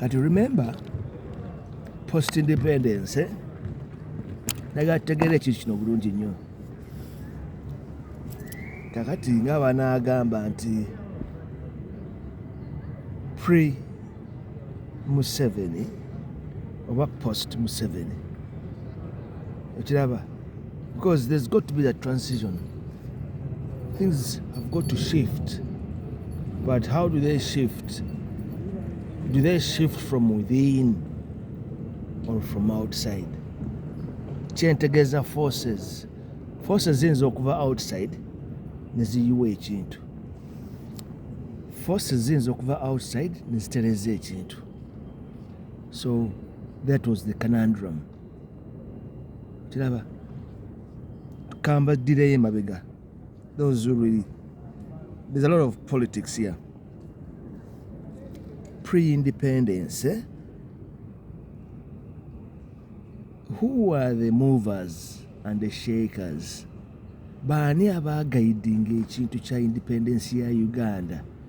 kati remember post independence eh? naga tutegeera ekintu kino bulungi nnyo kakati nga banaagamba nti pre museveni oba post museveni ekiraba because there's got to be that transition things have got to shift but how do they shift do they shift from within or from outside kyentegeeza forces forces ziyinza okuva outside neziyiwa ekintu forces ziyinza okuva outside nezitereeza ekintu so that was the conundrum kiraba kambaddireyo emabega those who really there's a lot of politics here pre-independence eh? who are the movers and the shakers baani abaagaidinga ekintu kya independence ya uganda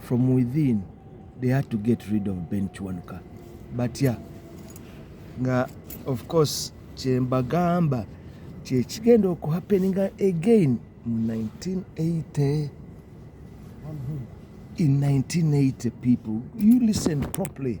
From within they had to get rid of Ben Kiwanuka batya nga of course kyembagamba kyekigenda okuhappeninga again mu 1980 in 1980 people you listen properly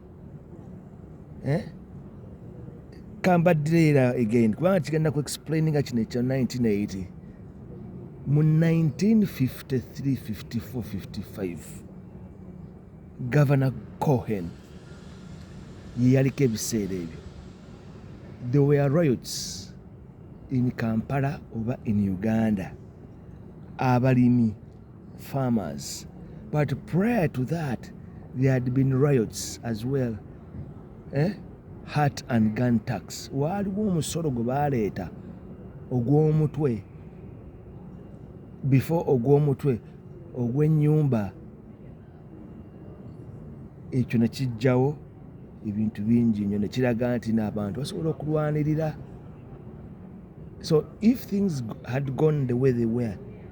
eh? kambaddira again kubanga kigenda ku explaininga kino ekya 1980 mu 1953-54-55 gavana cohen yeyaliko ebiseera ebyo the were riots in kampala oba in uganda abalimi farmers. But prior to that, there had been riots as well. Eh? Hat and gun tax. Waaliwo omusolo gwe baaleeta ogw'omutwe before ogw'omutwe ogw'ennyumba ekyo ne kijjawo ebintu bingi nnyo ne kiraga nti n'abantu basobola okulwanirira so if things had gone the way they were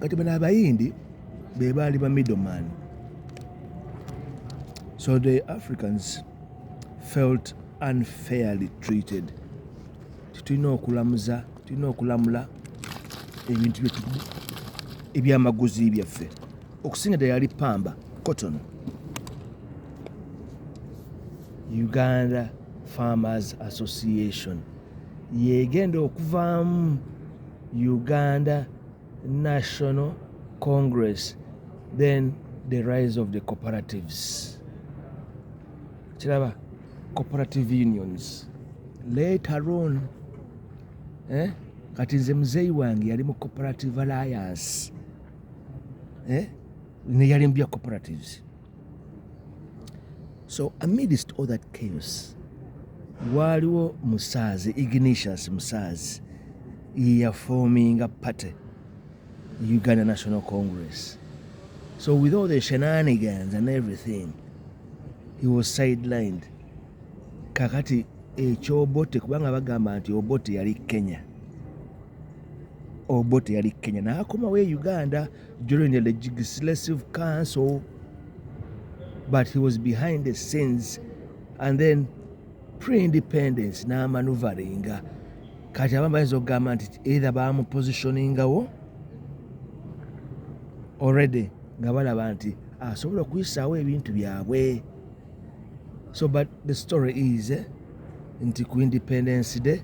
kati bano abayindi bebaali ba middleman so the africans felt unfairly treated tetulina okulamuza tulina okulamula ebintu byetu ebyamaguzi byaffe okusinga ddala yali pamba cotton uganda farmers association yegenda okuvaamu Uganda National Congress then the rise of the cooperatives kiraba cooperative unions later on eh? kati nze muzeeyi wange yali mu cooperative alliance eh? neyali mu bya cooperatives So amidst all that chaos waaliwo musaazi ignatius musaazi yeyafoominga party uganda national congress so with all the shenanigans and everything he was sidelined kakati ekyobote kubanga bagamba nti obote yali kenya obote yali kenya nakomawo e uganda during the legislative council, but he was behind the scenes. And then pre-independence n'amanuvaringa kati abamu bayinza okugamba nti either bamupositioningawo already nga balaba nti asobola okuyisaawo ebintu byabwe so but the story is eh, nti ku independence day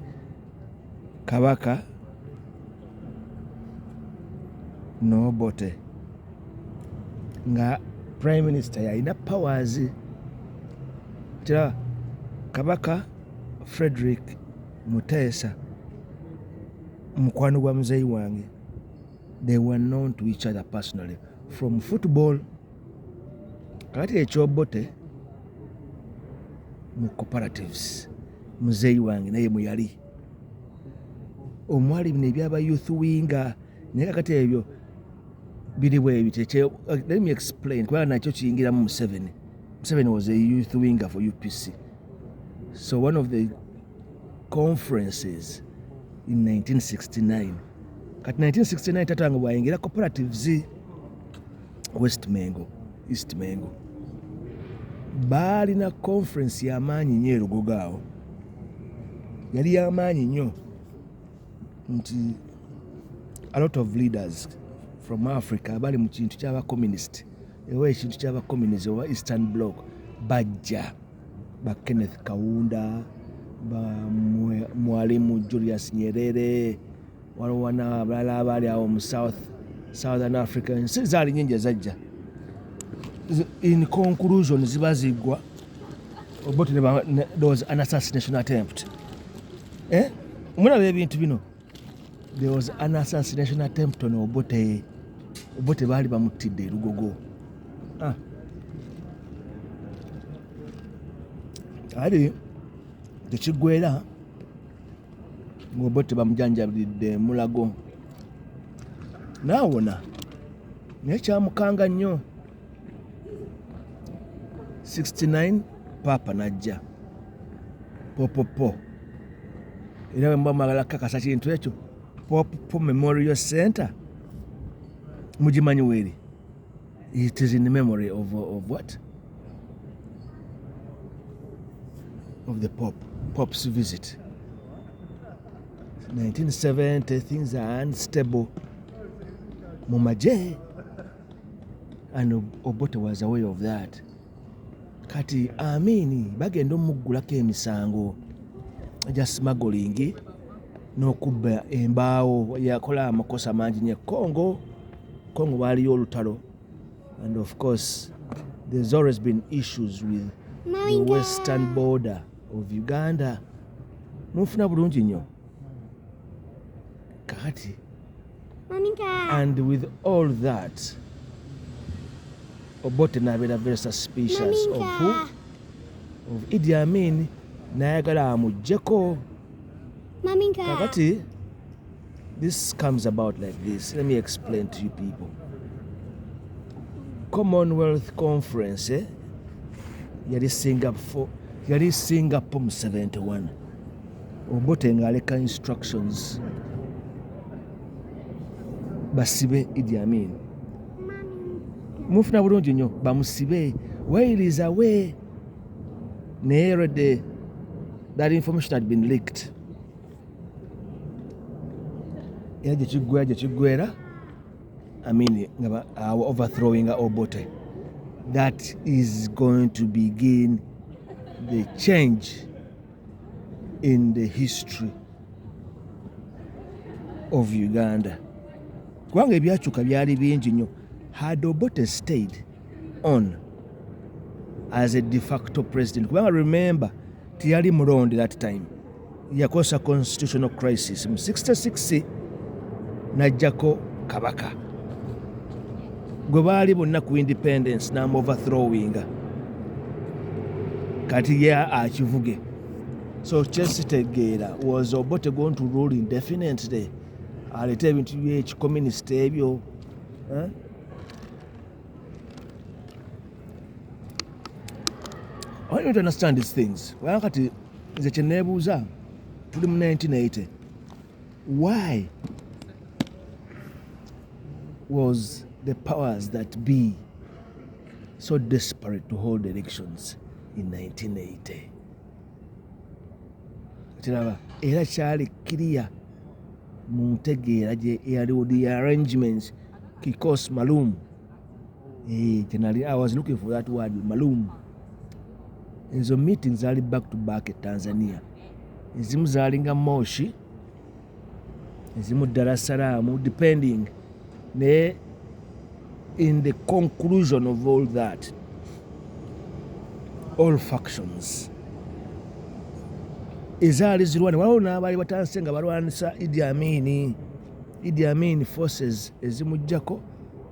Kabaka n'Obote nga prime minister yalina powers tya Kabaka Frederick Muteesa mukwano gwa muzeeyi wange they were known to each other personally from football. kati ekyobote mu cooperatives muzeeyi wange naye muyali omwali bino ebyaba youth winga naye kakati ebyo biri bwebi let me explain kubanga nakyo kiyingiramu museveni museveni was a youth winger for upc so one of the conferences in 1969 kati 1969 tatange bwayingira cooperatives west mengo east mengo baalina conference yamaanyi nyo erugogo awo yali yamaanyi nyo nti a lot of leaders from africa bali mu kintu kyabacommunist ewa ekintu kyabacommunist oba eastern block bajja ba kenneth kawunda ba mwalimu julius nyerere waliwo wana abalala abaali awo mu south southern africa ensi zaali nyingi ezajja in conclusion ziba ziggwa obot those an assassination attempt eh? mulaba ebintu bino there was an assassination attempt on obote obote baali bamuttidde erugogo ah. ali tekiggwera ngobote bamujanjabiridde mulago naawona naye kyamukanga nnyo 69 paapa najja popopo era bwemuba mwagala kukakasa kintu ekyo popopo memorial center mugimanyi weeri It is in memory of, of what? Of the Pope, Pope's visit. 1970, things are unstable. Mumaje, and Obote was aware of that. Kati amini bagenda omuggulako emisango gya smuggling n'okubba embaawo yakola amakosa mangi nye Congo Congo waaliyo olutalo and of course there's always been issues with the western border of Uganda munfuna bulungi nnyo kakati and with all that Obote nabeera very suspicious of who of Idi Amin nayagala amujjeko kakati This comes about like this. Let me explain to you people. Commonwealth Conference eh? yali Singapore yali Singapore mu 71 Obote ng'aleka instructions basibe Idi Amin mufuna bulungi nnyo bamusibe while is away naye already that information had been leaked era gye kiggwera gye kiggwera amini nga awo overthrowing obote that is going to begin the change in the history of uganda kubanga ebyakyuka byali bingi nnyo had obote stayed on as a de facto president kubanga remember teyali mulonde that time yakosa constitutional crisis mu 66 najjako kabaka gwe baali bonna ku independence namu overthrowinga kati ye akivuge so kyesitegeera was obote going to rule indefinitely aleeta ebintu byekikomunist ebyo eh? I don't understand these things. Well, nze kyenebuuza tuli mu 1980 why was the powers that be so desperate to hold elections in 1980 kiraba era kyali kiriya mu ntegeera gye eyaliwo the arrangements kikos malum Eh, kyenali I was looking for that word malum. Ezo meeting zali back to back e Tanzania. Ezimu zalinga Moshi, ezimu Dar es Salaam depending ne in the conclusion of all that all factions ezaali zirwani waliwo n'abaali batanse nga balwanisa idi amini idi amini forces ezimujjako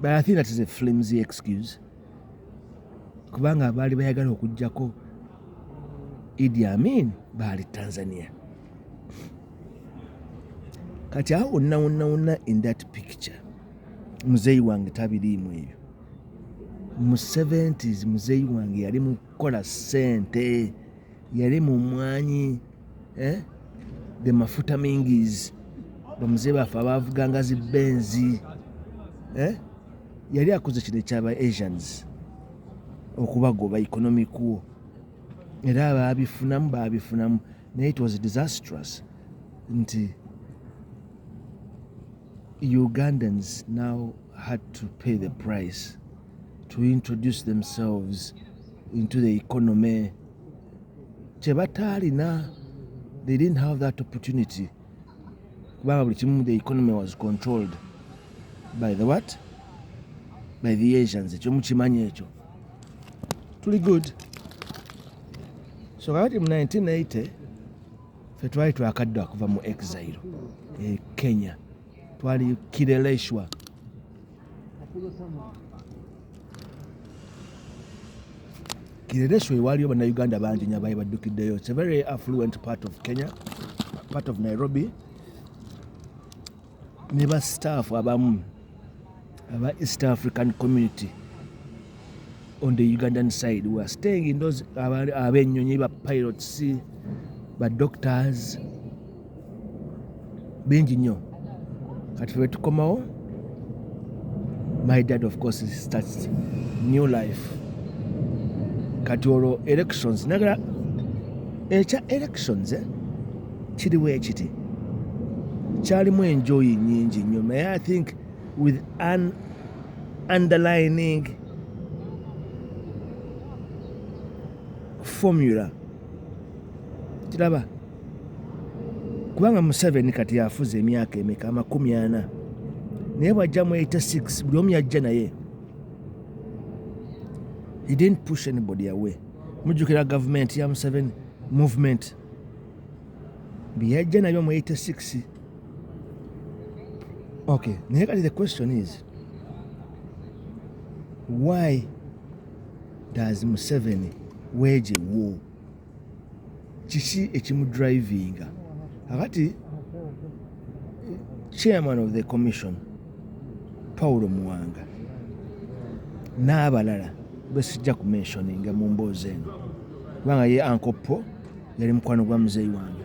But I think that is a flimsy excuse. Kubanga baali bayagala okujjako Idi Amin baali Tanzania. Kati awo wonna wonna wonna in that picture muzeeyi wange tabiriimu ebyo. Mu 70s muzeeyi wange yali mu kukola ssente, yali mu mwanyi. eh? the mafuta mingis bamuzee baffe abavuganga zi benzi eh? yali akoze kino ekyaba asians okubagoba economic wo era babifunamu babifunamu naye it was disastrous nti ugandans now had to pay the price to introduce themselves into the economy kye bataalina they didn't have that opportunity kubanga buli kimu the economy was controlled by the what by the asians ekyo mukimanyi ekyo tuli good so kakati mu 1980 fe twali twakadda kuva mu exile e kenya twali kireleshwa kireresho ewaaliyo bannayuganda bangi nya baali baddukiddeyo its a very affluent part of kenya part of nairobi ne ba staff abamu aba east african community on the Ugandan side we are staying in those abenyonyi ba pilots ba doctors bingi nnyo kati ffe tukomawo my dad of course starts new life kati olwo elections nagala ekya elections eh? kiriwo ekiti kyalimu enjoyi nyingi nnyo naye i think with an underlining formula kiraba kubanga museveni kati yafuza emyaka emeka amakumi ana naye bwajja mu 86 buli omu yajja naye he didn't push anybody away mujjukira gavumenti ya museveni movement byeyajja nabyo mu 86 Okay, naye kati the question is why does Museveni weje wo kiki ekimudrivinga akati chairman of the commission Paulo Muwanga n'abalala besijja ku mentioninga mu mboozi eno kubanga ye ankopo yali mukwano gwa muzeeyi wange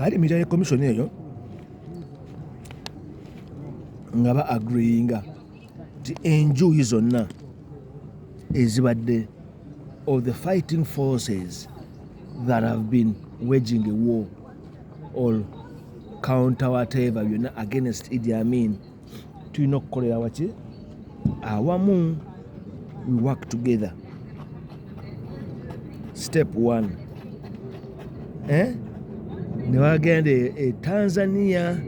ali mitale komishoni eyo nga ba agreeinga nti enjuyi zonna ezibadde of the fighting forces that have been waging a war or counter whatever byonna against idi amin tulina okukolera waki awamu we work together step one eh? ne bagenda e, e tanzania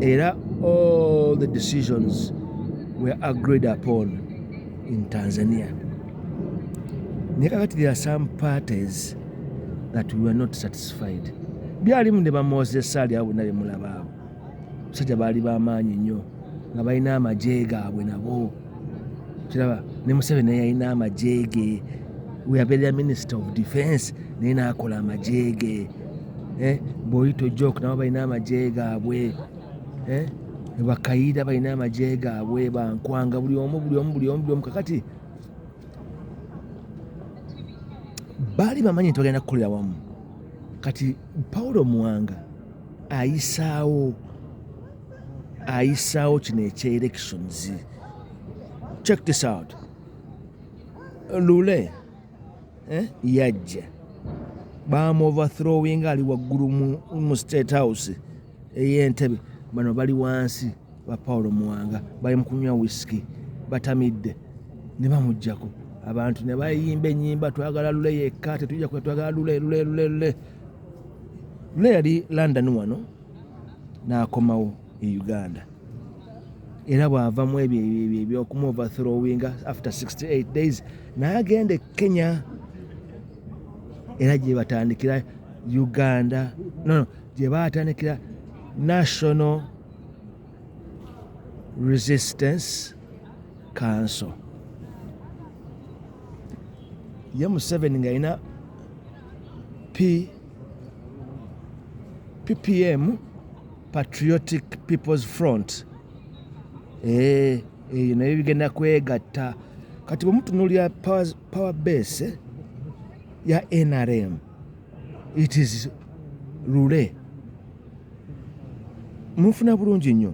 era all the decisions were agreed upon in tanzania naye kakati there are some parties that we were not satisfied byalimu ne bamozesa ali awo nabemulaba awo abasajja baali bamaanyi nnyo nga balina amagye gaabwe nabo kiraba ne museveni naye yalina amagye ge weyabeerera minisita of defense naye naakola amagye ge eh, bwoyita ojok nabo balina amagye gaabwe eh, bakayiira balina amagye gaabwe bankwanga buli omu buli omu buli omu buli omu kakati baali bamanyi nti bagenda kukolera wamu kati paulo muwanga ayisaawo ayisaawo kino ekya elections check this out lule eh, yajja bamuoverthrowing ali waggulu mu state house eyentebe bano bali wansi ba paulo muwanga bali mukunywa wisiki batamidde ne bamujjako abantu ne bayimba enyimba twagala lule yekka tetujja twagala lule lule lule lule lule yali london wano n'akomawo e uganda era bw'avamu ebyo ebyokumu overthrowinga after 68 days naye agenda e kenya era gye batandikira uganda nono gye batandikira national resistance council ye museveni ng'alina P PPM Patriotic People's Front eh, eyo nayo bigenda kwegatta kati bwemutunulira power base ya NRM it is lule mufuna bulungi nnyo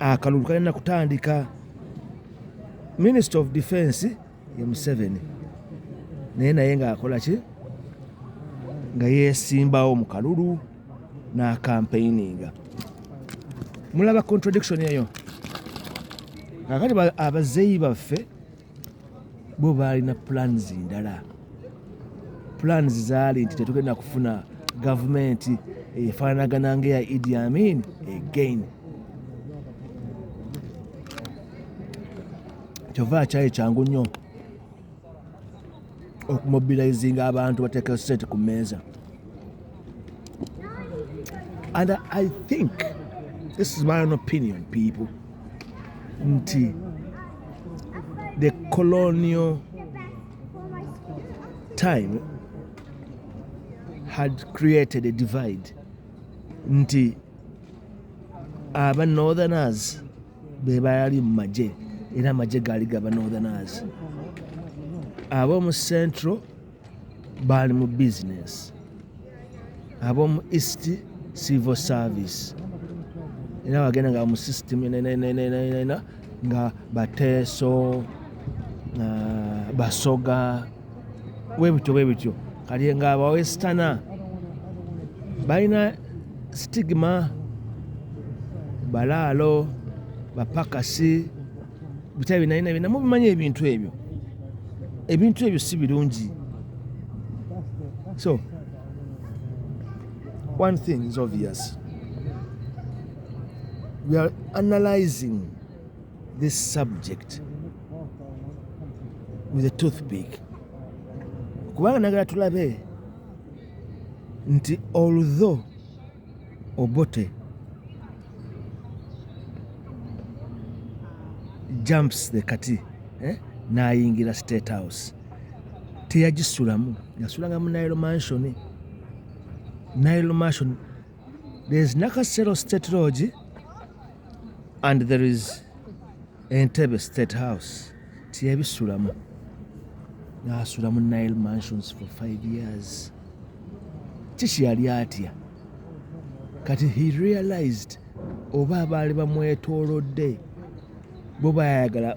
akalulu kalina kutandika minister of defense ye museveni naye naye ngaakola ki nga yesimbawo mu kalulu n'akampeininga mulaba contradiction eyo kakati abazeeyi baffe bo baalina plans ndala plans zaali nti tetugenda kufuna gavumenti efaanagana ngaeya idi amin again kyova akyali kyangu nnyo okumobilizinga abantu bateeka sente ku mmeeza and i think this is my own opinion people nti the colonial time had created a divide nti aba northerners be baali mu magye era amagye gaali gaba northerners ab'omu central baali mu bizinesi ab'omu east civil service era bagenda nga mu system enenenenenena nga bateeso ah, basoga webityo webityo kati nga abawesitana balina sitigima balaalo bapakasi bitya binayina bina mubimanyi ebintu ebyo ebintu ebyo si birungi so one thing is obvious we are analyzing this subject with a toothpick kubanga nagala tulabe nti although obote jumps the kati eh? nayingira state house teyagisulamu yasulanga mu nile mansion nile mansion There is Nakasero State Lodge and there is Entebbe State House. Tiyabisulamu. Nasulamu Nile Mansions for five years. Kiki yali atya? Kati he realized oba abaali bamwetoolodde bo bayagala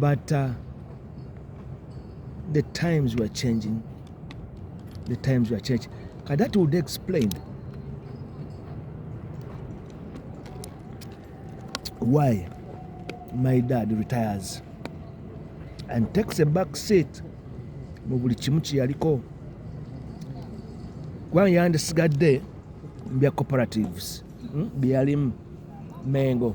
but uh, the times were changing the times were changing ka that would explain why my dad retires and takes a back seat mu buli kimu kyeyaliko kubanga yandisigadde bya cooperatives hmm, byeyalimu mengo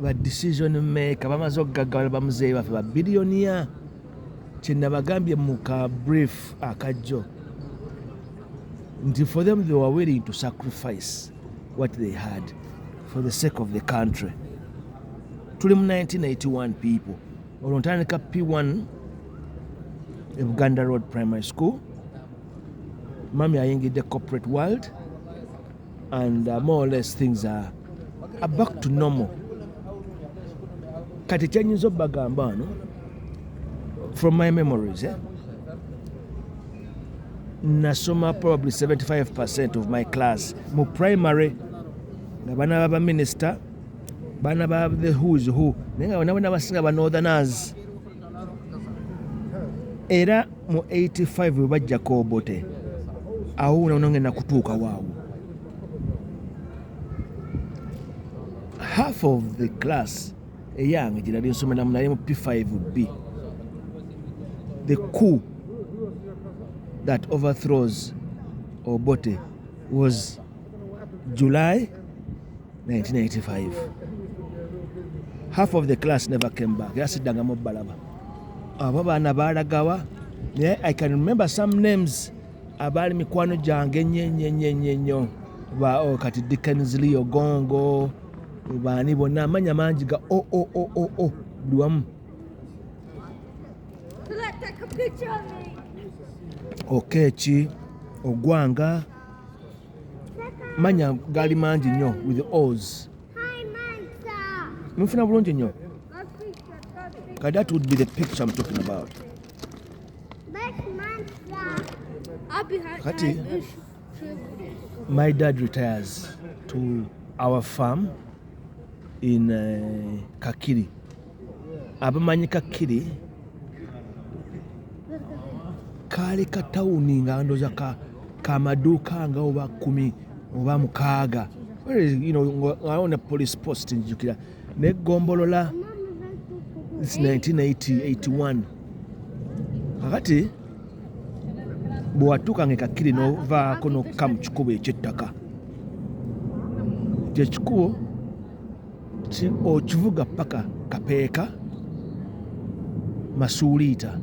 ba decision maker bamaze okugaggawala bamuzeeyi baffe ba biliyoniya kyenabagambye mu ka brief akajjo nti for them they were willing to sacrifice what they had for the sake of the country tuli mu 1981 people olwo ntandika p1 e buganda road primary school mami ayingidde corporate world and uh, more or less things are, are back to normal kati kyenyinza obagamba wano from my memories eh? nasoma probably 75 percent of my class mu primary nga bana baba minister bana ba the who's who naye nga bana bana basinga ba northerners era mu 85 bwe bajja kobote awo unaonange nakutuuka waawo half of the class eyange gye nali nsomeramu naye mu p5b the coup that overthrows obote was July 1985 half of the class never came back era siddangamu obalaba abo baana baalagawa naye i can remember some names abaali mikwano gyange enyenyenyenyenyo oh, kati dickens leo gongo baani bonna amanya mangi ga o o o o o buli wamu okeeki ogwanga manya gali mangi nnyo with os mufuna bulungi nnyo kati that would be the picture I'm talking about kati my dad retires to our farm in uh, kakiri abamanyi kakiri kaali ka tawuni nga ndoza ka kamaduuka nga oba kumi oba mukaaga awo ne police post njukira naye gombolola 1981 kakati bwewatuuka nga ekakkiri novaako nokukka mu kikubo ekyettaka kyekikubo okivuga paka kapeeka masuuliita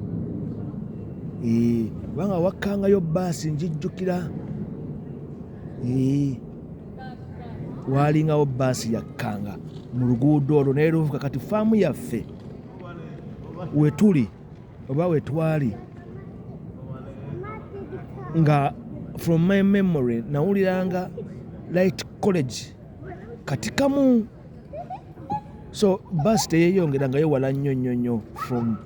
kubanga wakkangayo baasi njijjukira waalingawo baasi yakkanga mu luguudo olwo naye luvuka kati faamu yaffe wetuli oba wetwali nga from my memory nawuliranga light college kati kamu so bus teyeyongera nga yewala nnyo nnyo nnyo from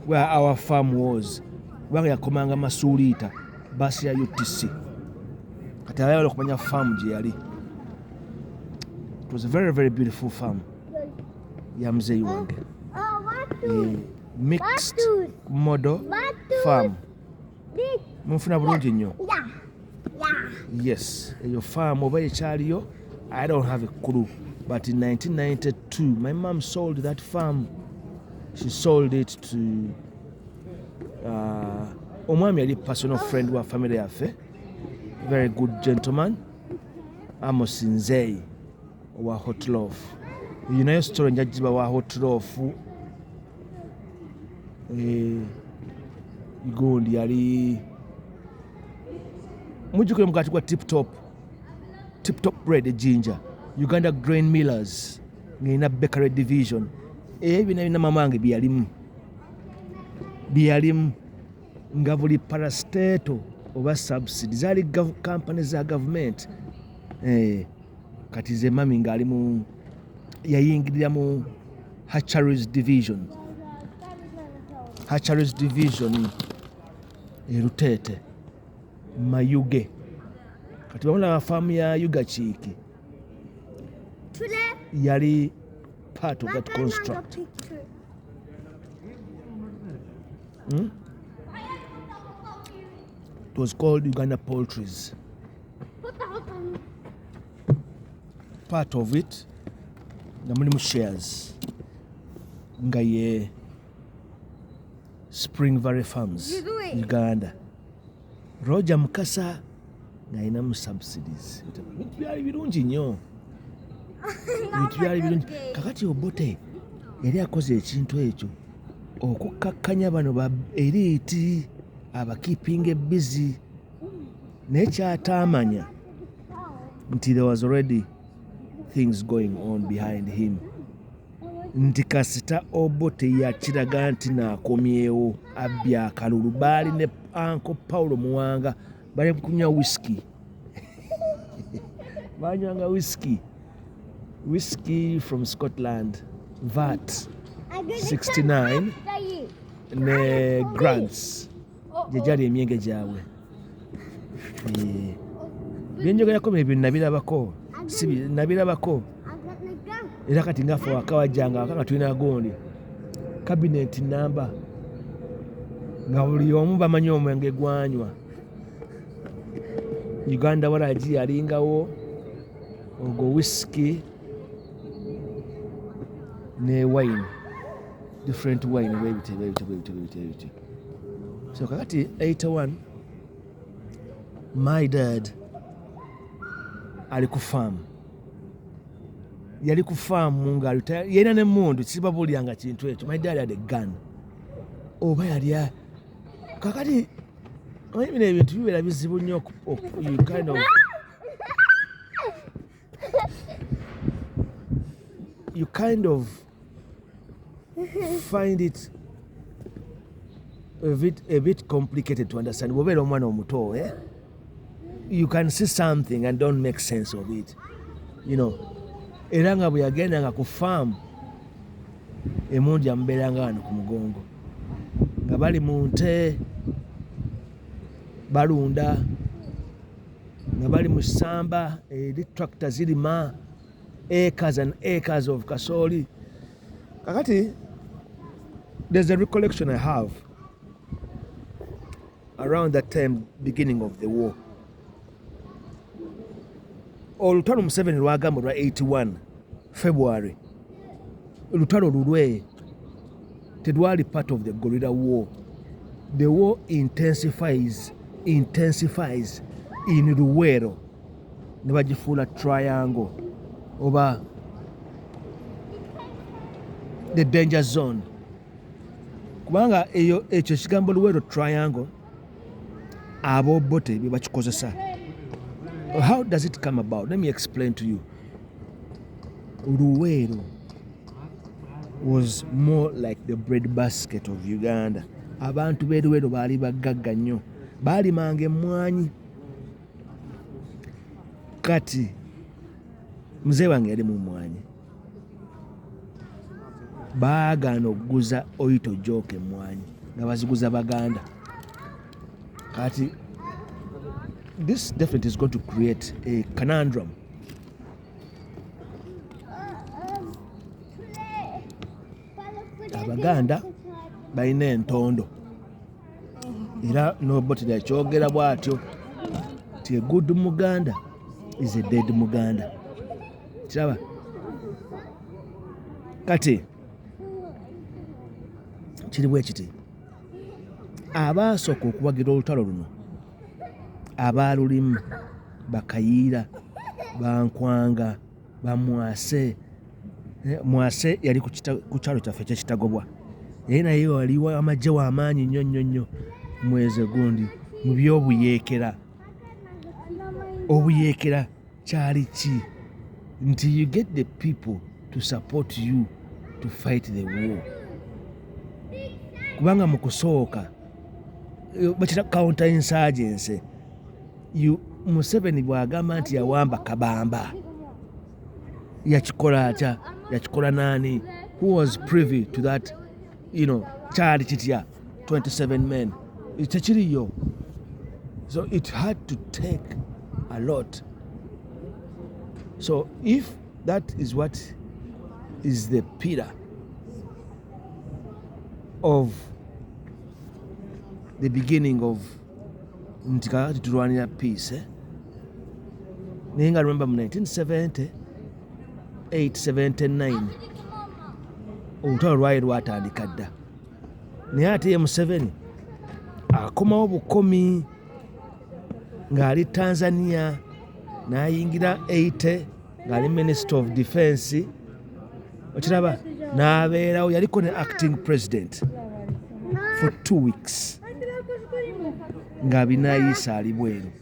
where our farm was kubanga yakomanga masuuliita bus ya utc kati ayala okumanya farm gye yali it was a very very beautiful farm ya muzeeyi wange eh, mixed model farm munfuna bulungi nnyo yes eyo faamu oba ekyaliyo i don't have a clue but in 1992 my mom sold that farm she sold it to uh, omwami yali personal friend wa family yaffe very good gentleman amos nzeyi owa hotlof eyo nayo story njagiba wa hotlof Eh, gundi yali mujjukire mugati gwa tiptop tiptop bread ejinja uganda grain millers ng'erina bakery division ebyo bina bina mamange byeyalimu byeyalimu nga buli parasteto oba subsidy zaali kampani za gavumenti eh, kati ze mami ng'ali mu yayingirira mu hatcheries division hatcheries division eruteete mayuge kati bamu na faamu ya yuga kiiki yali part of that construct hmm? it was called uganda poultries part of it nga mulimu shares nga ye spring valley farms uganda roger mukasa ng'alinamu subsidies ebintu byali birungi nnyo ebintu byali birungi kakati obote yali akoze ekintu ekyo okukkakkanya bano ba eriiti abakiipinga ebbizi naye kyataamanya nti there was already things going on behind him nti kasita obo teyakiraga nti nakomyewo abbi akalulu baali ne anko paulo muwanga bali kunywa whisky banywanga whisky whisky from scotland vat 69 ne grants gye gyali emyenge gyabwe byenjogerako bye bintu nabirabako nabirabako era kati ngafe wakawajjanga waka nga tulina gundi kabineti namba nga buli omu bamanyi omwenge gwanywa uganda waragi yalingawo ogwo wisiki ne wine different wine bwebityo bwebityo bwebityo bwebityo so kakati 81 my dad ali ku faamu yali ku faamu nga yalina nemundu sibabulyanga kintu ekyo my dad had a gun oba yali kakati bino ebintu bibeera bizibu nnyo kind of you kind of find it a bit, a bit complicated to understand wobeera omwana omuto eh? you can see something and don't make sense of it you know era nga bwe yagenda nga ku faamu emungi amubeeranga wano ku mugongo nga bali mu nte balunda nga bali mu ssamba eri tractor zirima acres and acres of kasooli kakati there's a recollection i have around that time beginning of the war olutalo museveni lwagamba lwa 81 february lutalo lulwe tedwali part of the gorilla war the war intensifies intensifies in luweero ne bagifuula triangle oba the danger zone kubanga eyo ekyo ekigambo luweero triangle abobote bebakikozesa how does it come about let me explain to you luweero was more like the bread basket of uganda abantu beruweero baali baggagga nnyo baalimanga emmwanyi kati mzee wange yali mu mmwanyi baagaana okuguza oyito jooka emmwanyi nga baziguza baganda kati this definitely is going to create a conundrum abaganda balina entondo era nobotera ekyogera bwatyo ti a good muganda is a dead muganda kiraba kati kiri bwe kiti abaasooka okuwagira olutalo luno abaalulimu bakayiira bankwanga bamwase eh, mwase yali ku kyalo kyaffe ekyekitagobwa naye naye waliwo amagye wamaanyi nnyo nnyo nnyo mweze gundi mu byobuyeekera obuyeekera kyali ki nti you get the people to support you to fight the war kubanga mu kusooka eh, bakita counter insurgency museveni bwagamba nti yawamba kabamba yakikola atya yakikola naani who was privy to that you know kyali kitya 27 men tekiriyo so it had to take a lot so if that is what is the pillar of the beginning of nti kakati tulwanira peace eh? naye nga remember mu 1970 879 olutalo lwali lwatandika dda naye ate ye museveni akomawo bukomi ng'ali tanzania n'ayingira 8 ng'ali minister of defense okiraba n'abeerawo yaliko ne acting president for two weeks nga binayiisa ali bweru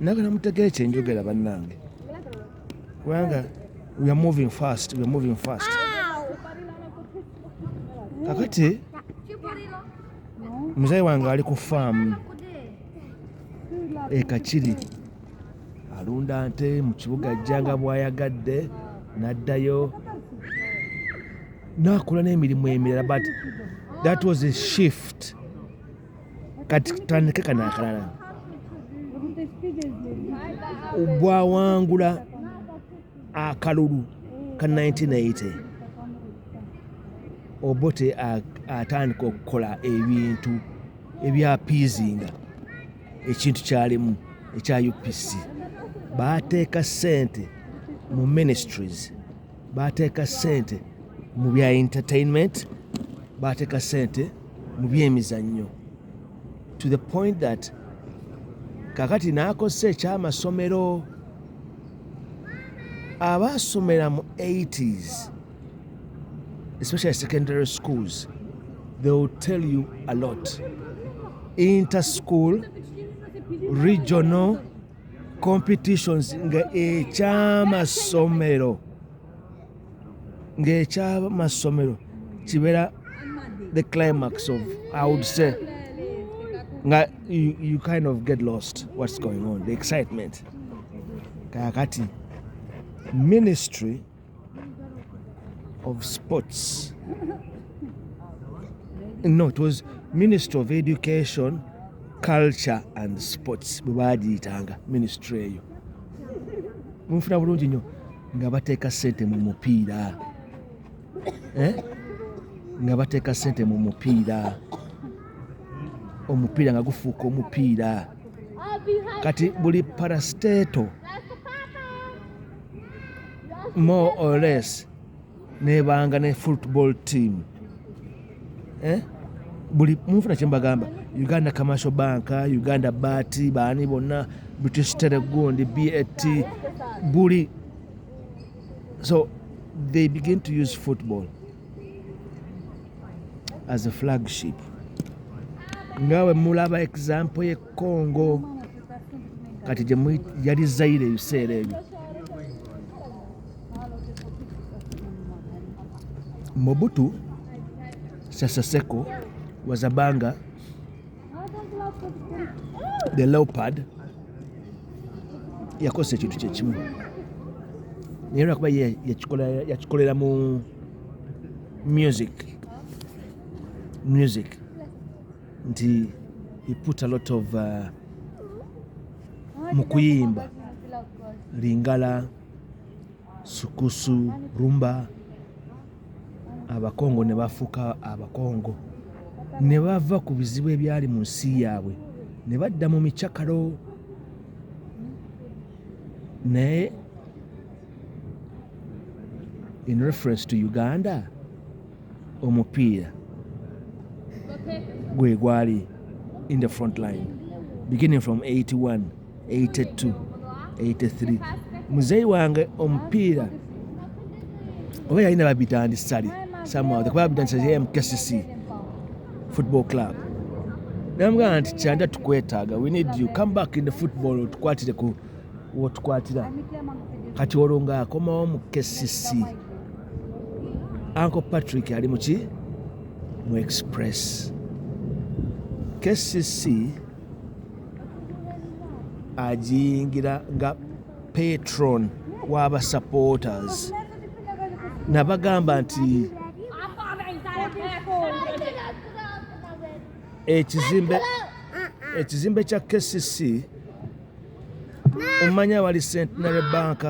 nagala mutegere kyenjogera bannange kubanga we are moving fast we are moving fast kakati muzayi wange ali ku faamu ekakiri alunda nte mu kibuga ajja nga bwayagadde n'addayo n'akola n'emirimu emirala but that was a shift Kati tutandike kano akalala bwawangula akalulu ka 1980 obote atandika okukola ebintu ebyapiizinga ekintu kyalimu ekya upc bateeka sente mu ministries bateeka sente mu bya entertainment bateeka sente mu byemizannyo to the point that kakati n'akozesa ekyamasomero abaasomera mu 80s especially secondary schools they will tell you a lot interschool regional competitions nga ekyamasomero ng'ekyamassomero kibeera the climax of i would say nga you, you kind of get lost what's going on the excitement kakati ministry of sports no it was ministry of education culture and sports bwe baagiyitanga ministry eyo munfuna bulungi nnyo nga bateeka ssente mu mupiira eh? nga bateeka ssente mu mupiira omupiira nga gufuuka omupiira kati buli parasteto more or less nebanga ne football team eh? buli munfuna kyembagamba uganda commercial bank uganda bat baani bonna british telegundi bat buli so they begin to use football as a flagship ngawe mulaba example congo kati yali zaire ebiseera ebyo mobutu seseseko wazabanga the leopard yakozesa ekintu kyekimu naye lwakuba yakikolera mu music music nti he put a lot of uh, mu kuyimba lingala sukusu rumba abakongo ne bafuuka abakongo ne bava ku bizibu ebyali mu nsi yaabwe ne badda mu micakalo naye in reference to uganda omupiira gwe gwali in the front line beginning from 81 82 83 muzeeyi wange omupiira oba yalina babitandisali somehow kuba babitandisali mkcc football club namugamba nti kyanda tukwetaaga we need you come back in the football otukwatireko wotukwatira kati olwo ng'akomawo mu kcc anko patrick ali muki mu express kcc agiyingira nga patron waba supporters nabagamba nti ekizimbe ekizimbe kya kcc Omanyi abali Centenary Bank.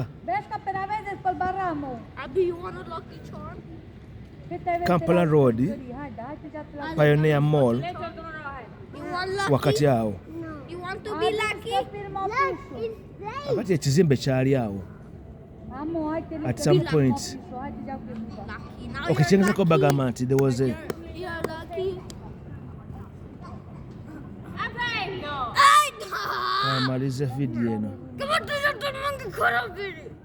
Kampala Road, Pioneer Mall, wakati awo. Wakati ekizimbe kyali awo. at some point okay kyengeza ko bagamba nti there was a amalize video eno